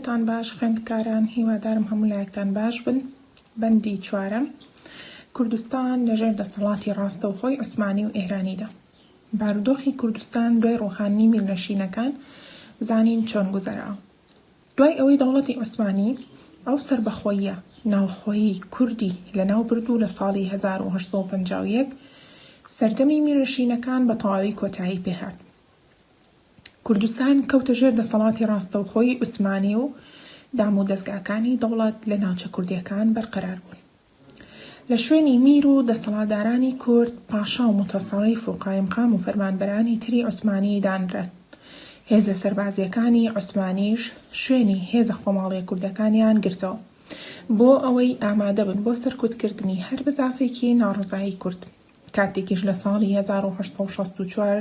تان باش خوێندکاران هیوادارم هەموو لایەکتان باش بن بەندی چوارەم کوردستان لەژێر دەسەڵاتی ڕاستەوخۆی عوسمانی و ئێرانیدا بارودۆخی کوردستان دوای ڕوخاندنی میللەشینەکان زانین چۆن گوزەرا دوای ئەوەی دەوڵەتی عوسمانی ئەو سەربەخۆییە ناوخۆیی کوردی لەناو برد و لە ساڵی هەزار و هەشت سەد و پەنجا و یەک سەردەمی میرنشینەکان بە تەواوی کۆتایی پێ هات کوردستان کەوتە ژێر دەسەڵاتی ڕاستەوخۆی عوسمانی و دامودەزگاکانی دەوڵەت لە ناوچە کوردییەکان بەرقەرار بوون. لە شوێنی میر و دەسەڵاتدارانی کورد، پاشا و موتەسەڕیف و قایمقام و فەرمانبەرانی تری عوسمانی دانران. هێزە سەربازییەکانی عوسمانیش شوێنی هێزە خۆماڵییە کوردەکانیان گرتەوە، بۆ ئەوەی ئامادە بن بۆ سەرکوتکردنی هەر بزافێکی ناڕەزایی کورد. کاتێکیش لە ساڵی هەزار و هەشت سەد و شەست و چوار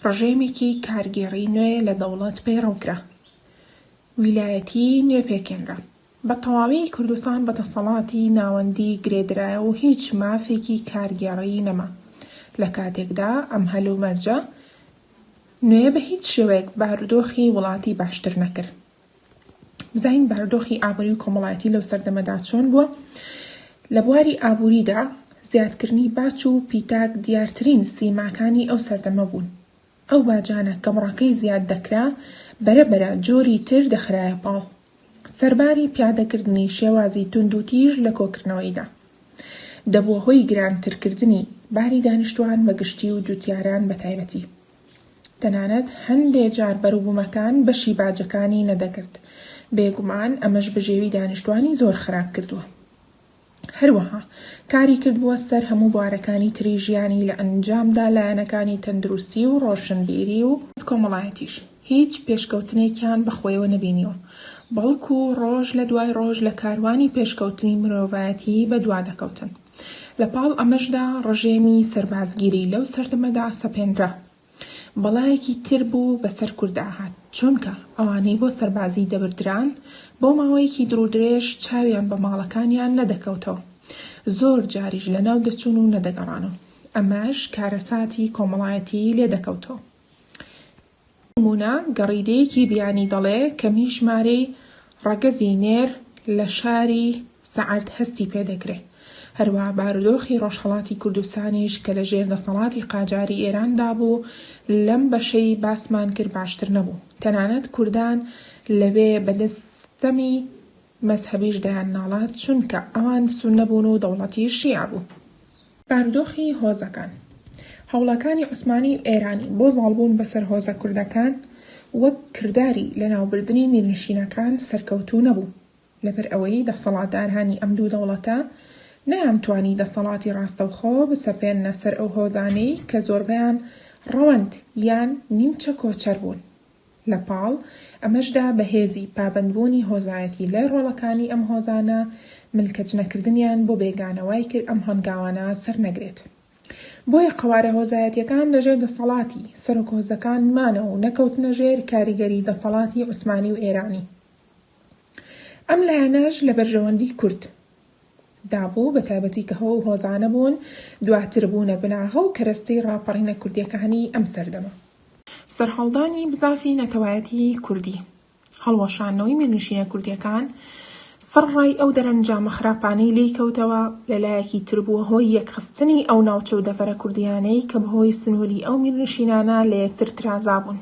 ڕژێمێکی کارگێڕی نوێ لە دەوڵەت پەیڕەو کرا، ویلایەتی نوێ پێکهێنرا، بە تەواوی کوردستان بە دەسەڵاتی ناوەندی گرێدرایەوە و هیچ مافێکی کارگێڕیی نەما. لە کاتێکدا ئەم هەلومەرجە نوێیە بە هیچ شێوەیەک بارودۆخی وڵاتی باشتر نەکرد. بزانین بارودۆخی ئابووری و کۆمەڵایەتی لەو سەردەمەدا چۆن بووە؟ لە بواری ئابووریدا زیادکردنی باج و پیتاک دیارترین سیماکانی ئەو سەردەمە بوون. ئەو باجانە کە بڕەکەی زیاد دەکرا، بەرەبەرە جۆری تر دەخرایە پاڵ سەرباری پیادەکردنی شێوازی توندوتیژ لە کۆکردنەوەیدا. دەبووە هۆی گرانترکردنی باری دانیشتوان بە گشتی و جوتیاران بە تایبەتی. تەنانەت هەندێ جار بەروبومەکان بەشی باجەکانی نەدەگرت. بێگومان ئەمەش بژێوی دانیشتوانی زۆر خراپ کردووە. هەروەها کاری کردووە سەر هەموو بوارەکانی تری ژیانی لە ئەنجامدا لایەنەکانی تەندروستی و ڕۆشنبیری و کۆمەڵایەتیش هیچ پێشکەوتنێکیان بە خۆیەوە نەبینیوە بەڵکو ڕۆژ لە دوای ڕۆژ لە کاروانی پێشکەوتنی مرۆڤایەتی بە دوا دەکەوتن لە پاڵ ئەمەشدا ڕژێمی سەربازگیری لەو سەردەمەدا سەپێنرا. بەڵایەکی تر بوو بەسەر کوردا هات، چونکە ئەوانەی بۆ سەربازی دەبردران بۆ ماوەیەکی دڕودرێژ چاویان بە ماڵەکانیان نەدەکەوتەوە، زۆر جاریش لەناو دەچوون و نەدەگەڕانەوە، ئەمەش کارەساتی کۆمەڵایەتیی لێ دەکەوتەوە. بۆ نموونە گەڕیدەیەکی بیانی دەڵێ کەمی ژمارەی ڕەگەزی نێر لە شاری. سەعد هەستی پێ دەکرێ. هەروا بارودۆخی ڕۆژهەڵاتی کوردستانیش کە لە ژێر دەسەڵاتی قاجاری ئێران دا بوو، لەم بەشەی باسمان کرد باشتر نەبوو. تەنانەت کوردان لەوێ بە دەست ستەمی مەزهەبیش دایان ناڵا چونکە ئەوان سوننە بوون و دەوڵەتیش شیعە بوو. بارودۆخی هۆزەکان. هەوڵەکانی عوسمانی و ئێرانی بۆ زاڵ بوون بە سەر هۆزە کوردەکان وەک کرداری لە ناو بردنی میرنشینەکان سەرکەوتوو نەبوو. لەبەر ئەوەی دەسەڵاتدارانی ئەم دوو دەوڵەتە نەیانتوانی دەسەڵاتی ڕاستەوخۆ بسەپێننە سەر ئەو هۆزانەی کە زۆربەیان ڕەوەند یان نیمچە کۆچەر بوون. لە پاڵ ئەمەشدا بە هێزی پابەندبوونی هۆزایەتی لای ڕۆڵەکانی ئەم هۆزانە ملکەچنەکردنیان بۆ بێگانە وای کرد ئەم هەنگاوانە سەر نەگرێت. بۆیە قەوارە هۆزایەتیەکان لە ژێر دەسەڵاتی سەرۆک هۆزەکان مانەوە و نەکەوتنە ژێر کاریگەری دەسەڵاتی عوسمانی و ئێرانی. ئەم لایەنەش لە بەرژەوەندی کورد دا بوو، بە تایبەتی کە هۆ و هۆزانە بوون، دواتر بوونە بناغە و کەرەستەی ڕاپەڕینە کوردییەکانی ئەم سەردەمە. سەرهەڵدانی بزافی نەتەوایەتی کوردی، هەڵوەشانەوەی میرنشینە کوردییەکان، سڕ ڕای ئەو دەرەنجامە خراپانەی لێی کەوتەوە، لە لایەکی تر بووە هۆی یەکخستنی ئەو ناوچە و دەڤەرە کوردییانەی کە بە هۆی سنووری ئەو میرنشینانە لە یەکتر ترازابوون.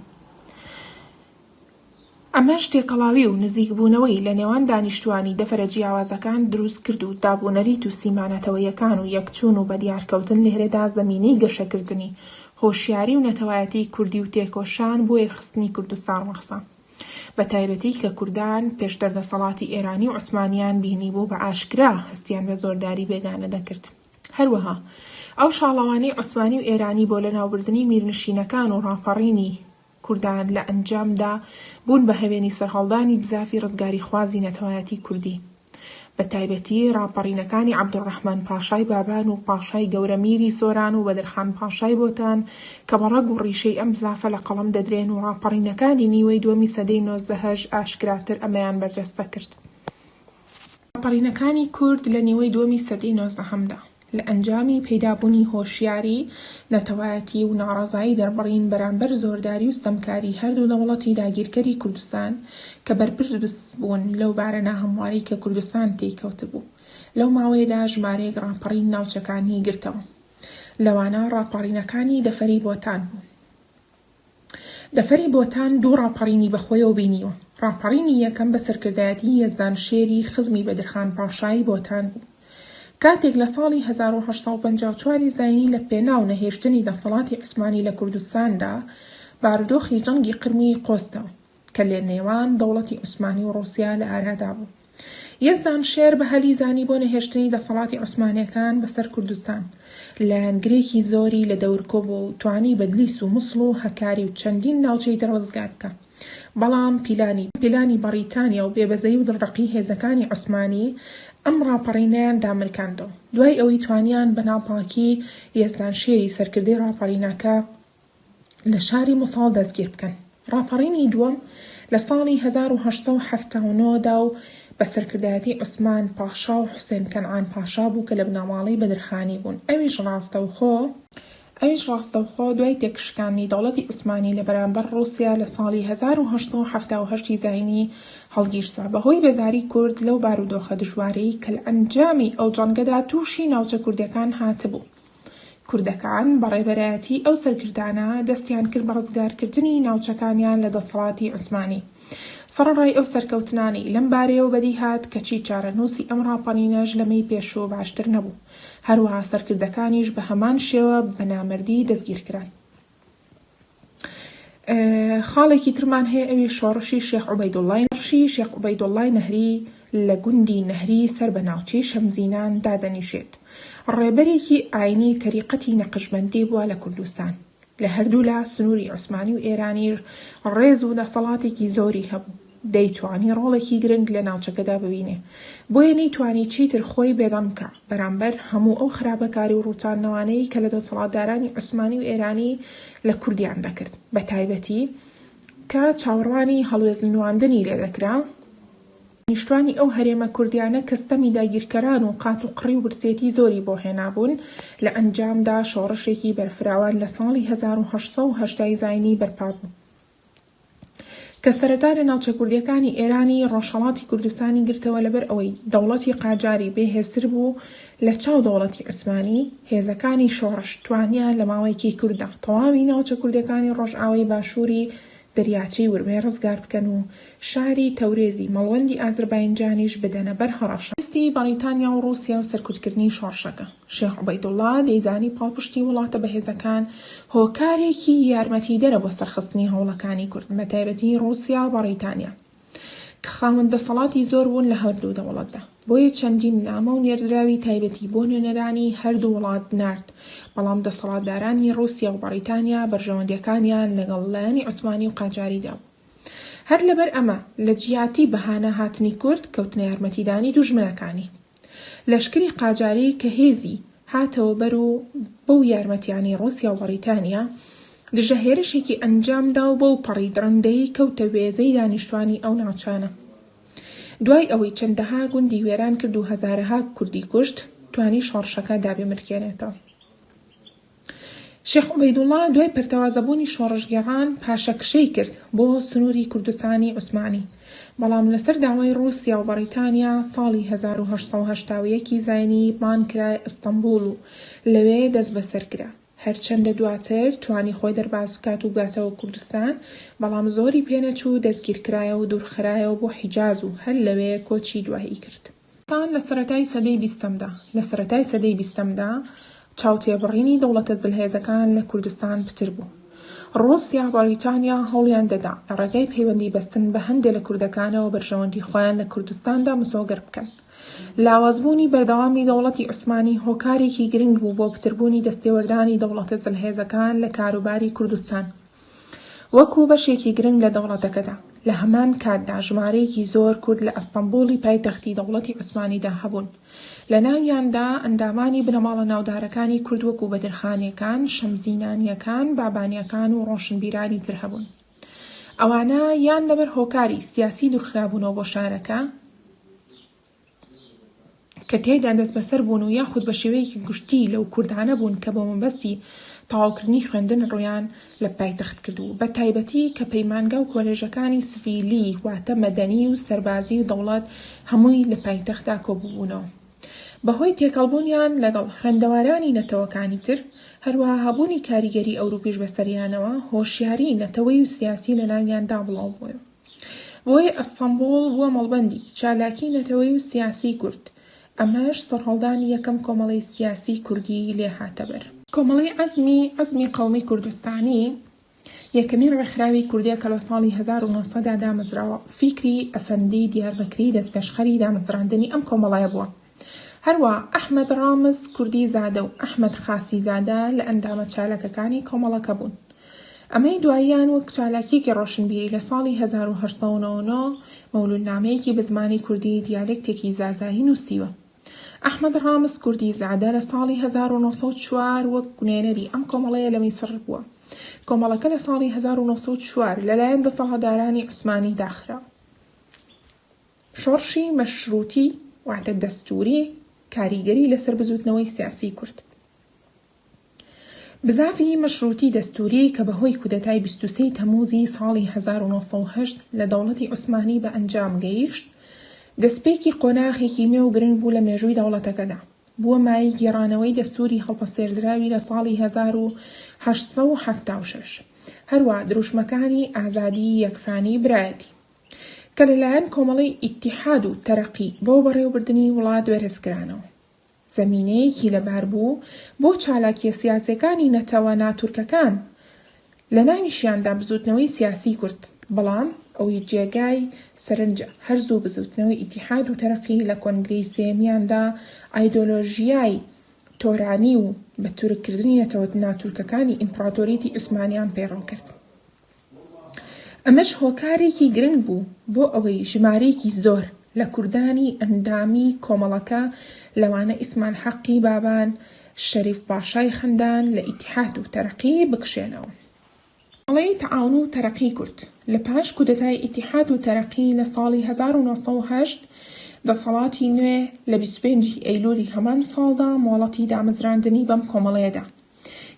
ئەمەش تێکەڵاوی و نزیکبوونەوەی لە نێوان دانیشتووانی دەڤەرە جیاوازەکان دروست کرد و دابونەریت و سیما نەتەوەیەکان و یەکچوون و بەدیارکەوتن لهرهدا زەمینەی گەشەکردنی هۆشیاری و نەتەوایەتیی کوردی و تێکۆشان بۆ یەکخستنی کوردستان ڕەخسا بە تایبەتی کە کوردان پێشتر دەسەڵاتی ئێرانی و عوسمانییان بینیبوو بە ئاشکرا هەستیان بە زۆرداری بێگانە دەکرد هەروەها ئەو شاڵەوانەی عوسمانی و ئێرانی بۆ لەناوبردنی میرنشینەکان و ڕاپەڕینی کوردان لە ئەنجامدا بوون بە هەوێنی سەرهەڵدانی بزافی ڕزگاریخوازی نەتەوایەتی کوردی بە تایبەتی ڕاپەڕینەکانی عەبدولڕەحمان پاشای بابان و پاشای گەورە میری سۆران و بەدرخان پاشای بۆتان کە بە ڕەگ و ڕیشەی ئەم بزافە لە قەڵەم دەدرێن و ڕاپەڕینەکانی نیوەی دووەمی سەدەی نۆزدەهەش ئاشکراتر ئەمەیان بەرجەستە کرد. ڕاپەڕینەکانی کورد لە نیوەی دووەمی سەدەی نۆزدەهەمدا. لە ئەنجامی پەیدابوونی هۆشیاری نەتەوایەتی و ناڕەزایی دەربڕین بەرامبەر زۆرداری و ستەمکاری هەردوو دەوڵەتی داگیرکەری کوردستان کە بەرپرس بوون لەو بارە ناهەموارەی کە کوردستان تێی کەوتبوو لەو ماوەیەدا ژمارەیەک ڕاپەڕین ناوچەکانی گرتەوە لەوانە ڕاپەڕینەکانی دەفری بۆتان و دەفری بۆتان دوو ڕاپەڕینی بەخۆیەوە بینیوە، ڕاپەڕینی یەکەم بە سەرکردایەتی یەزدان شێری خزمی بەدرخان پاشای بۆتان بوو. کاتێک لە ساڵی هەزار و هەشت سەد و پەنجا و چوار ی زاینی لە پێناو نەهێشتنی دەسەڵاتی عوسمانی لە کوردستاندا بارودۆخی جەنگی قرمووی قۆستەوە، کە لە نێوان دەوڵەتی عوسمانی و ڕووسیا لە ئارادا بوو. یەزدان شێر بە هەلی زانی بۆ نەهێشتنی دەسەڵاتی عوسمانییەکان بە سەر کوردستان، لایەنگرێکی زۆری لە دەور کۆ بوو و توانی بەدلیس و موسڵ و هەکاری و چەندین ناوچەی تر ڕزگار بکا. بەڵام پیلانی، پیلانی بەڕیتانیا و بێبەزەیی و دڵڕەقی هێزەکانی عوسمانی ئەم ڕاپەڕینەیان دامرکاندەوە. دوای ئەوەی توانیان بە ناپاکی یەزدان شێری سەرکردەی ڕاپەڕینەکە، لە شاری موسڵ دەستگیر بکەن. ڕاپەڕینی دووەم لە ساڵی هەزار و هەشت سەد و حەفتا و نۆ دا و بە سەرکردایەتی عوسمان پاشا و حوسێن کەنعان پاشا بوو کە لە بنەماڵەی بەدرخانی بوون، ئەویش ڕاستەوخۆ، ئەویش ڕاستەوخۆ دوای تێکشکاندنی دەوڵەتی عوسمانی لە بەرامبەر ڕووسیا لە ساڵی هەزار و هەشت سەد و حەفتا و هەشت ی زاینی هەڵگیرسا بە هۆی بێزاری کورد لەو بارودۆخە دژوارەی کە لە ئەنجامی ئەو جەنگەدا تووشی ناوچە کوردیەکان هاتبوو. کوردەکان بە ڕێبەرایەتی ئەو سەرکردانە دەستیان کرد بە ڕزگارکردنی ناوچەکانیان لە دەسەڵاتی عوسمانی. سەڕەڕای ئەو سەرکەوتنانەی لەم بارەیەوە بەدی هات، کەچی چارەنووسی ئەم ڕاپەڕینەش لەمەی پێشوو باشتر نەبوو. هەروەها سەرکردەکانیش بە هەمان شێوە بە نامەردی دەستگیرکران. خاڵێکی ترمان هەیە ئەوی شۆڕشی شێخ عوبەیدوڵڵای نەهری، شێخ عوبەیدوڵڵای نەهری لە گوندی نەهری سەر بە ناوچەی شەمزینان دادەنیشێت. ڕێبەرێکی ئاینی تەریقەتی نەقشبەندی بووە لە کوردستان. لە هەردوولا سنووری عوسمانی و ئێرانی ڕێز و دەسەڵاتێکی زۆری هەبوو. دەیتوانی ڕۆڵێکی گرنگ لە ناوچەکەدا ببینێ، بۆیە نەیتوانی چیتر خۆی بێدەنگ بکا بەرامبەر هەموو ئەو خراپەکاری و ڕووتاندنەوانەی کە لە دەسەڵاتدارانی عوسمانی و ئێرانی لە کوردیان دەکرد، بە تایبەتی کە چاوەڕوانی هەڵوێست نواندنی لێ دەکرا. دانیشتوانی ئەو هەرێمە کوردیانە کە ستەمی داگیرکەران و قات و قڕی و برسێتی زۆری بۆ هێنابوون، لە ئەنجامدا شۆڕشێکی بەرفراوان لە ساڵی هەزار و هەشت سەد و هەشتا ی زاینی بەرپا بوو. کە سەرەتا لە ناوچە کوردییەکانی ئێرانی ڕۆژهەڵاتی کوردستانی گرتەوە لەبەر ئەوەی دەوڵەتی قاجاری بێ هێزتر بوو لە چاو دەوڵەتی عوسمانی، هێزەکانی شۆڕش توانیان لە ماوەیەکی کورتدا تەواوی ناوچە کوردییەکانی ڕۆژئاوای باشووری دەریاچەی ورمێ ڕزگار بکەن و شاری تەورێزی مەڵوەندی ئازرباینجانیش بدەنە بەر هەڕەشە دەستی بەڕیتانیا و ڕووسیا و سەرکوتکردنی شۆڕشەکە. شێخ عوبەیدوڵڵا دەیزانی پاڵپشتی وڵاتە بەهێزەکان هۆکارێکی یارمەتیدەرە بۆ سەرخستنی هەوڵەکانی کورد، بەتایبەتی ڕووسیا و بەڕیتانیا کە خاوەن دەسەڵاتی زۆر بوون لە هەردوو دەوڵەتدا. بۆیە چەندین نامە و نێردراوی تایبەتی بۆ نوێنەرانی هەردوو وڵات نارد، بەڵام دەسەڵاتدارانی ڕووسیا و بەڕیتانیا بەرژەوەندییەکانیان لەگەڵ لایەنی عوسمانی و قاجاریدا بوو. هەر لەبەر ئەمە لە جیاتی بەهانە هاتنی کورد کەوتنە یارمەتیدانی دوژمنەکانی لەشکری قاجاری کە هێزی هاتەوە بەر و بەو یارمەتیانەی ڕوسیا و بەڕیتانیا دژە هێرشێکی ئەنجام دا و بەو پەڕی دڕندەیی کەوتە وێزەی دانیشتوانی ئەو ناوچانە دوای ئەوەی چەندەها گوندی وێران کرد و هەزارەها کوردی کوشت توانی شۆڕشەکە دابمرکێنێتەوە. شێخ عوبەیدوڵڵا دوای پەرتەوازەبوونی شۆڕشگێڕان پاشەکشەی کرد بۆ سنووری کوردستانی عوسمانی، بەڵام لەسەر داوای ڕووسیا و بەڕیتانیا ساڵی هەزار و هەشت سەد و هەشتا و یەک ی زاینی بان کرا ئەستەمبوڵ و لەوێ دەستبەسەر کرا. هەرچەندە دواتر توانی خۆی دەرباز بکات و بگاتەوە کوردستان، بەڵام زۆری پێنەچوو دەستگیرکرایەوە و دوورخرایەوە بۆ حیجاز و هەر لەوێ کۆچی دوایی کرد. تان لە سەرەتای سەدەی بیستەمدا. لە سەرەتای سەدەی بیستەمدا چاوتێبڕینی دەوڵەتە زلهێزەکان لە کوردستان پتر بوو. ڕووسیا، بەڕیتانیا هەوڵیان دەدا لە ڕێگای پەیوەندی بەستن بە هەندێ لە کوردەکانەوە بەرژەوەندی خۆیان لە کوردستاندا مسۆگەر بکەن. لاوازبوونی بەردەوامی دەوڵەتی عوسمانی هۆکارێکی گرنگ بوو بۆ پتربوونی دەستێوەردانی دەوڵەتە زلهێزەکان لە کاروباری کوردستان. وەکو بەشێکی گرنگ لە دەوڵەتەکەدا. لە هەمان کاتدا ژمارەیەکی زۆر کورد لە ئەستەنبوڵی پایتەختی دەوڵەتی عوسمانیدا هەبوون، لە ناویاندا ئەندامانی بنەماڵە ناودارەکانی کورد وەکو بەدرخانیەکان، شەمزینانیەکان، بابانیەکان و ڕۆشنبیرانی تر هەبوون. ئەوانە یان لەبەر هۆکاری سیاسی دورخرابوونەوە بۆ شارەکە، کە تیایدا دەستبەسەر بوون و یاخود بە شێوەیەکی گشتی لەو کوردانە بوون کە بۆ مەبەستی تەواوکردنی خوێندن ڕوویان لە پایتەخت کردبوو بە تایبەتی کە پەیمانگا و کۆلێژەکانی سڤیلی واتە مەدەنی و سەربازی و دەوڵەت هەمووی لە پایتەختدا کۆبووبوونەوە بە هۆی تێکەڵبوونیان لەگەڵ خوێندەوارانی نەتەوەکانی تر هەروەها هەبوونی کاریگەری ئەوروپیش بەسەریانەوە هۆشیاری نەتەوەی و سیاسی لەناویاندا بڵاوبووە. بۆی ئەستەمبوڵ بووە مەڵبەندی چالاکی نەتەوەی و سیاسی کورد، ئەمەش سەرهەڵدانی یەکەم کۆمەڵەی سیاسی کوردی لێ هاتە بەر. کۆمەڵەی عەزمی عەزمی قەومی کوردستانی یەکەمین ڕێکخراوی کوردیە کە لە ساڵی هەزار و نۆ سەد دا دامەزراوە، فیکری ئەفەندی دیاربەکری دەستپێشخەری دامەزراندنی ئەم کۆمەڵەیە بووە، هەروا ئەحمەد ڕامز کوردیزادە و ئەحمەد خاسیزادە لە ئەندامە چالاکەکانی کۆمەڵەکە بوون. ئەمەی دواییان وەک چالاکییەکی ڕۆشنبیری لە ساڵی هەزار و هەشت سەد و نەوە و نۆ مەولوودنامەیەکی بە زمانی کوردی دیالێکتێکی زازایی نووسیوە. ئەحمەد ڕامز کوردیزادە لە ساڵی هەزار و نۆ سەد و چوار وەک نوێنەری ئەم کۆمەڵەیە لە میسڕ بووە. کۆمەڵەکە لە ساڵی هەزار و نۆ سەد و چوار لەلایەن دەسەڵاتدارانی عوسمانی داخرا. شۆڕشی مەشرووتی واتە دەستووری کاریگەری لەسەر بزووتنەوەی سیاسیی کورد بزاڤی مەشرووتی دەستووری کە بەهۆی کودەتای بیست و سێی تەمووزی ساڵی هەزار و نۆ سەد و هەشت لە دەوڵەتی عوسمانی بە ئەنجام گەیشت، دەستپێکی قۆناغێکی نوێ و گرنگ بوو لە مێژووی دەوڵەتەکەدا. بووە مایەی گێڕانەوەی دەستووری هەڵپەسێردراوی لە ساڵی هەزار و هەشت سەد و حەفتا و شەش. هەروەها دروشمەکانی ئازادی، یەکسانی، برایەتی. کە لەلایەن کۆمەڵەی ئیتیحاد و تەرەقی بۆ بەڕێوەبردنی وڵات بەرزکرانەوە، زەمینەیەکی لەبار بوو بۆ چالاکییە سیاسییەکانی نەتەوە ناتورکەکان، لەناویشیاندا بزووتنەوەی سیاسیی کورد، بەڵام ئەوەی جێگای سەرنجە هەر زوو بزووتنەوەی ئیتیحاد و تەرەقی لە کۆنگرەی سێیەمیاندا ئایدۆلۆژیای تۆرانی و بە تورککردنی نەتەوە ناتورکەکانی ئیمپڕاتۆریەتی عوسمانییان پەیڕەو کرد. ئەمەش هۆکارێکی گرنگ بوو بۆ ئەوەی ژمارەیەکی زۆر لە کوردانی ئەندامی کۆمەڵەکە لەوانە ئیسمان حەقی بابان، شەریف پاشای خەندان لە ئیتیحاد و تەرەقی بکشێنەوە. کۆمەڵەی تەعاون و تەرەقی کورد لە پاش کودەتای ئیتیحاد و تەرەقی لە ساڵی هەزار و نۆ سەد و هەشت، دەسەڵاتی نوێ لە بیست و پێنج ی ئەیلولی هەمان ساڵدا مۆڵەتی دامەزراندنی بەم کۆمەڵەیە دا.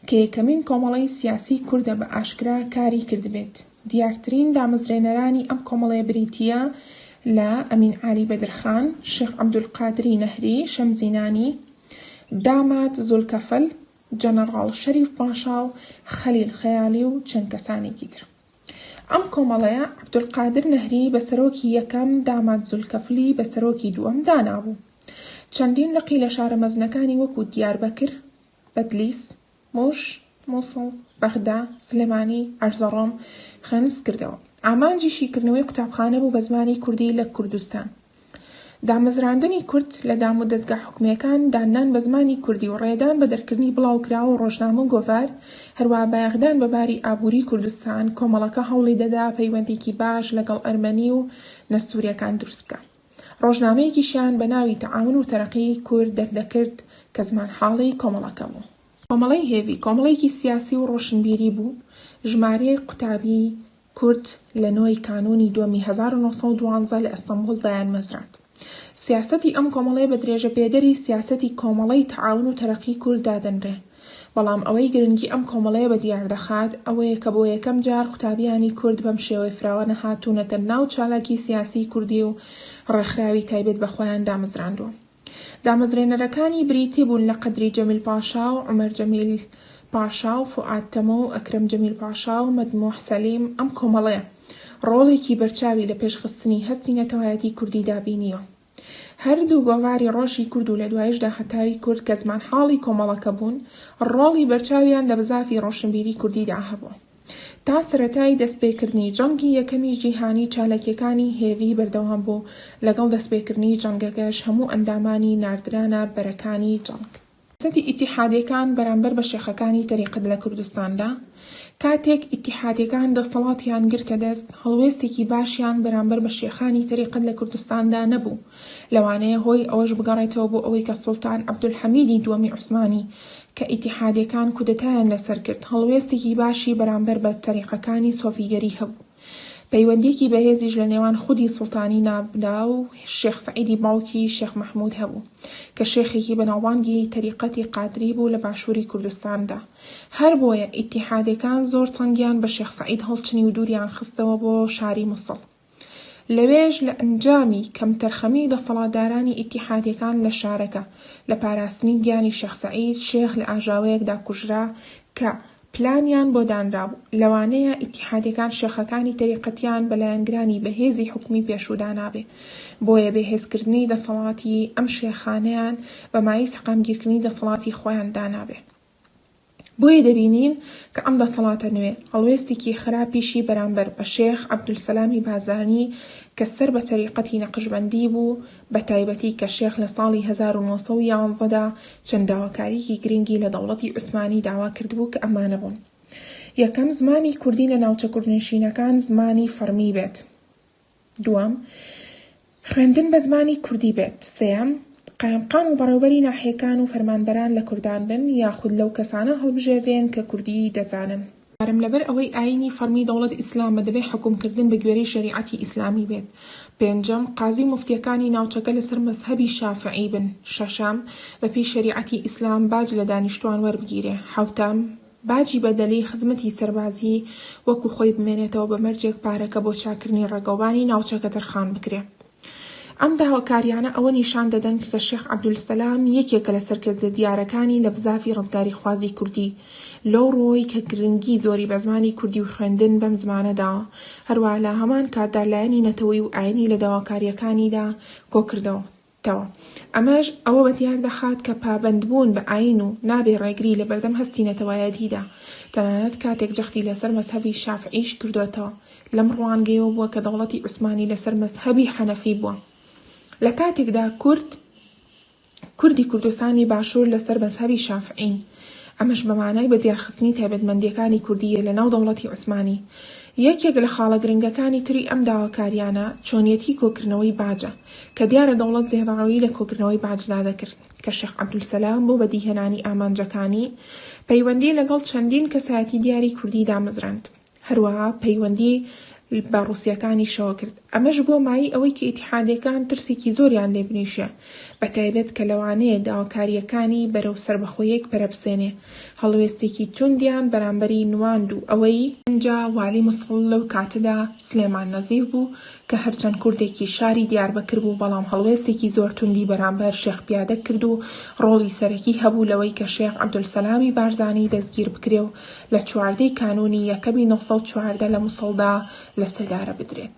کە یەکەمین کۆمەڵەی سیاسیی کوردە بە ئاشکرا کاری کردبێت، دیارترین دامەزرێنەرانی ئەم کۆمەڵەیە بریتییە لە، ئەمین عالی بەدرخان، شێخ عەبدولقادری نەهری، شەمزینانی، داماد زولکەفل، جەنەڕاڵ شەریف پاشا و خەلیل خەیالی و چەند کەسانێکی تر. ئەم کۆمەڵەیە عەبدولقادر نەهری بە سەرۆکی یەکەم، داماد زولکەفلی بە سەرۆکی دووەم دانابوو. چەندین لقی لە شارە مەزنەکانی وەکوو دیاربەکر، بەدلیس، موش، موسڵ، بەغدا، سلێمانی، ئەرزەڕۆم، خەنس کردەوە. ئامانجی شیکردنەوەی قوتابخانە بوو بە زمانی کوردی لە کوردستان. دامەزراندنی کورد لە دامودەزگا حکومیەکان، داننان بە زمانی کوردی و ڕێدان بە دەرکردنی بڵاوکراوە و ڕۆژنامە و گۆڤار، هەروەها بایەخدان بە باری ئابووری کوردستان، کۆمەڵەکە هەوڵی دەدا پەیوەندیەکی باش لەگەڵ ئەرمەنی و نەستوریەکان دروست بکا. ڕۆژنامەیەکیشیان بە ناوی تەعاون و تەرەقی کورد دەردەکرد کە زمانحاڵی کۆمەڵەکە بوو. کۆمەڵەی هێڤی کۆمەڵەیەکی سیاسی و ڕۆشنبیری بوو، ژمارەیەک قوتابی کورد لە نۆ ی کانوونی دووەمی هەزار و نۆ سەد و دوازدە لە ئەستەنبوڵ دایانمەزراند. سیاسەتی ئەم کۆمەڵەیە بە درێژەپێدەری سیاسەتی کۆمەڵەی تەعاون و تەرەقی کورد دادەنرێ. بەڵام ئەوەی گرنگی ئەم کۆمەڵەیە بە دیار دەخات ئەوەیە کە بۆ یەکەم جار قوتابیانی کورد بەم شێوەی فراوانە هاتوونەتە ناو چالاکی سیاسیی کوردی و ڕێکخراوی تایبەت بە خۆیان دامەزراندووە. دامەزرێنەرەکانی بریتی بوون لە قەدری جەمیل پاشا و عومەر جەمیل پاشا و فوئاد تەمۆ و ئەکرەم جەمیل پاشا و مەدمووح سەلیم، ئەم کۆمەڵەیە ڕۆڵێکی بەرچاوی لە پێشخستنی هەستی نەتەوایەتیی کوردیدا بینیوە. هەر دوو گۆڤاری ڕۆژی کورد و لە دواییشدا هەتاوی کورد کە زمانحاڵی کۆمەڵەکە بوون، ڕۆڵی بەرچاویان لە بزافی ڕۆشنبیری کوردیدا هەبوو. تا سەرەتای دەستپێکردنی جەنگی یەکەمی جیهانی چاالکییەکانی هێڤی بەردەوام بوو، لەگەڵ دەستپێکردنی جەنگەکەش هەموو ئەندامانی ناردرانە بەرەکانی جەنگ. سیاسەتی ئیتیحادیەکان بەرامبەر بە شێخەکانی تەریقەت لە کوردستاندا، کاتێک ئیتیحادیەکان دەسەڵاتیان گرتە دەست، هەڵوێستێکی باشیان بەرامبەر بە شێخانی تەریقەت لە کوردستاندا نەبوو، لەوانەیە هۆی ئەوەش بگەڕێتەوە بۆ ئەوەی کە سوڵتان عەبدولحەمیدی دووەمی عوسمانی کە ئیتیحادیەکان کودەتایان لەسەر کرد، هەڵوێستێکی باشی بەرامبەر بە تەریقەکانی سۆفیگەری هەبوو. پەیوەندییەکی بەهێزیش لە نێوان خودی سوڵتانی نابلا و شێخ سەعیدی باوکی شێخ مەحموود هەبوو، کە شێخێکی بەناوبانگی تەریقەتی قادری بوو لە باشووری کوردستاندا. هەر بۆیە ئیتیحادییەکان زۆر چنگیان بە شێخ سەعید هەڵچنی و دووریان خستەوە بۆ شاری موسڵ. لەوێش لە ئەنجامی کەمتەرخەمیی دەسەڵاتدارانی ئیتیحادییەکان لە شارەکە، لە پاراستنی گیانی شێخ سەعید، شێخ لە ئاژاوەیەکدا کوژرا کە، پلانیان بۆ دانرابوو، لەوانەیە ئیتیحادیەکان شێخەکانی تەریقەتیان بە لایەنگرانی بەهێزی حکومی پێشوو دانابێ، بۆیە بێهێزکردنی دەسەڵاتی ئەم شێخانەیان بەمایی سەقامگیرکردنی دەسەڵاتی خۆیان دانابێ. بۆیە دەبینین کە ئەم دەسەڵاتە نوێ هەڵوێستیکی خراپیشی بەرامبەر بە شێخ عەبدولسەلامی بازانی کە سەر بە تەریقەتی نەقشبەندی بوو بە تایبەتی کە شێخ لە ساڵی هەزار و نۆ سەد و یازدە دا چەند داواکاریەکی گرنگی لە دەوڵەتی عوسمانی داوا کردبوو کە ئەمانە بوون، یەکەم، زمانی کوردی لە ناوچە کوردنشینەکان زمانی فەڕمی بێت، دووەم، خوێندن بە زمانی کوردی بێت، سێیەم، قایمقام و بەڕێوبەری ناحیەکان و فەرمانبەران لە کوردان بن، یاخود لەو کەسانە هەڵبژێردرێن کە کوردیی دەزانن. کارم لەبەر ئەوەی ئاینی فەڕمی دەوڵەت ئیسلامە دەبێت حوکم کردن بە گوێرەی شەریعەتی ئیسلامی بێت پێنجەم قازی و موفتیەکانی ناوچەکە لەسەر مەزهەبی شافعی بن شەشەم بە پێی شەریعەتی ئیسلام باج لە دانیشتوان وەربگیرێ حەوتەم باجی بەدەلی خزمەتی سەربازی وەکو خۆی بمێنێتەوە بە مەرجێک پارەکە بۆ چاکردنی ڕێگەوبانی ناوچەکە تەرخان بکرێ. ئەم داواکارییانە ئەوە نیشان دەدەن کە شێخ عەبدولسەلام یەکێکە لە سەرکردە دیارەکانی لە بزاڤی ڕزگاریخوازی کوردی، لەو ڕووەوەی کە گرنگی زۆری بە زمانی کوردی و خوێندن بەم زمانە داوە، هەروەها لە هەمان کاتدا لایەنی نەتەوەی و ئایینی لە داواکارییەکانیدا کۆ کردۆتەوە. ئەمەش ئەوە بە دیار دەخات کە پابەندبوون بە ئایین و نابێ ڕێگری لە بەردەم هەستی نەتەوایەتیدا، تەنانەت کاتێک جەختی لەسەر مەزهەبی شافعیش کردۆتەوە، لەم ڕوانگەیەوە بووە کە دەوڵەتی عوسمانی لەسەر مەزهەبی حەنەفی بووە لە کاتێکدا کورد کوردی کوردستانی باشوور لەسەر مەزهەبی شافعین ئەمەش بە مانای بە دیارخستنی تایبەتمەندیەکانی کوردیە لە ناو دەوڵەتی عوسمانی یەکێک لە خاڵە گرنگەکانی تری ئەم داواکاریانە چۆنیەتی کۆکردنەوەی باجە کە دیارە دەوڵەت زێڕەڕەوی لە کۆکردنەوەی باجدا دەکرد کە شێخ عەبدولسەلام بۆ بەدیهێنانی ئامانجەکانی پەیوەندی لەگەڵ چەندین کەسایەتی دیاری کوردی دامەزراند هەروەها پەیوەندی بە ڕوسییەکانیشەوە کرد، ئەمەش بووە مایەی ئەوەی کە ئیتیحادییەکان ترسێکی زۆریان لێ بنیشێ، بەتایبەت کە لەوانەیە داواکارییەکانی بەرەو سەربەخۆییەک پەرەبسێنێ، هەڵوێستێکی توندیان بەرامبەری نواند و ئەوەی. ئینجا والی موسڵ لەو کاتەدا سلێمان نەزیف بوو، کە هەرچەند کوردێکی شاری دیاربەکر بوو، بەڵام هەڵوێستێکی زۆر توندی بەرامبەر شێخ پیادە کرد و ڕۆڵی سەرەکی هەبوو لەوەی کە شێخ عەبدولسەلامی بارزانی دەستگیربکرێ و لە چواردە ی کانوونی یەکەمی نۆ سەد و چواردە لە موسڵدا لە سێدارە بدرێت.